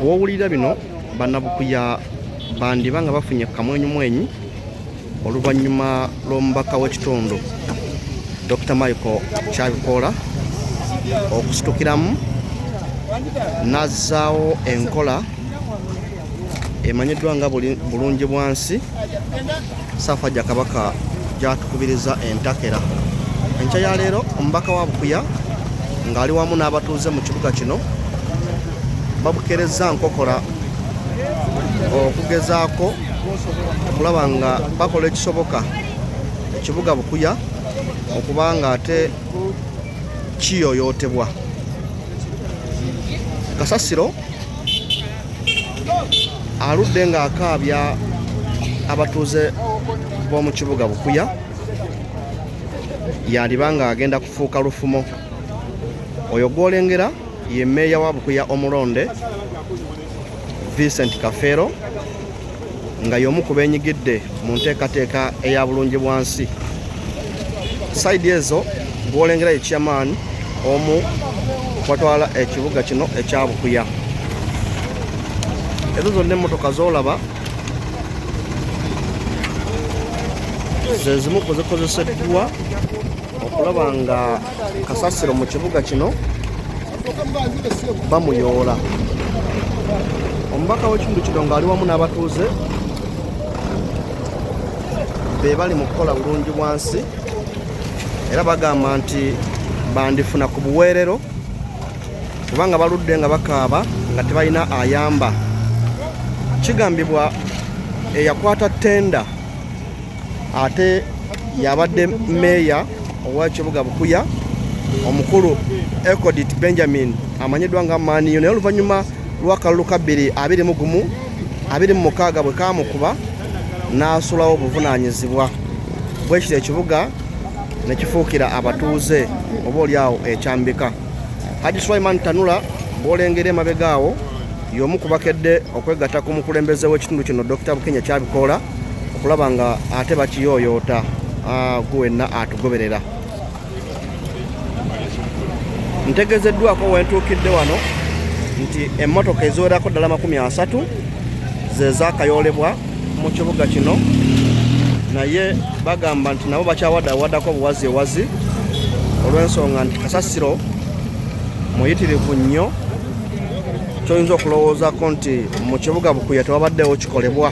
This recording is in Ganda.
wowulira bino banabukuya bandiba nga bafunye kamwenyumwenyi oluvannyuma lw'omubaka w'ekitundu dr michael kyabikoola okusitukiramu n'azzaawo enkola emanyiddwa nga bulungi bwansi saafa gya kabaka gyatukubiriza entakera enkya ya leero omubaka wa bukuya ng'ali wamu n'abatuuze mu kibuga kino babukerezza nkokola okugezaako okulaba nga bakola ekisoboka ekibuga bukuya okuba nga ate kiyoyootebwa kasasiro aludde ng'akaabya abatuuze b'omu kibuga bukuya yandiba ng'agenda kufuuka lufumo oyo gwolengera ye meeya wa bukuya omulonde vincent kafeero nga y'omu ku beenyigidde mu nteekateeka eya bulungi bwansi saidi ezo gwolengera ye chairman omu watwala ekibuga kino ekya bukuya ezo zonna emmotoka zolaba zezimu kuzikozeseddwa okulaba nga kasasiro mu kibuga kino bamuyoola omubaka w'ekitundu kino ng'ali wamu n'abatuuze be bali mu kukola bulungi bwansi era bagamba nti bandifuna ku buweerero kubanga baludde nga bakaaba nga tebalina ayamba kigambibwa eyakwata tenda ate yabadde meeya owa kibuga bukuya omukulu ecodit benjamin amanyiddwa nga maniyo naye oluvannyuma lwakalulu kabbiri abiri mu gumu abiri mu mukaaga bwe kamukuba n'asulawo obuvunaanyizibwa bwekiro ekibuga ne kifuukira abatuuze oba oli awo ekyambika haji sulaiman tanula bwolengera emabega awo y'omu kubakedde okwegatta ku mukulembeze w'ekitundu kino dr bukenya kyabikoola okulaba nga ate bakiyooyoota ah, gwe wenna atugoberera ntegezeddwako wentuukidde wano nti emmotoka eziwerako ddala makumi asatu zezakayoolebwa mu kibuga kino naye bagamba nti nabo bakyawadawadako obuwazi ewazi olw'ensonga nti kasasiro muyitirivu nnyo kyoyinza okulowoozako nti mu kibuga bukuya tewabaddewo kikolebwa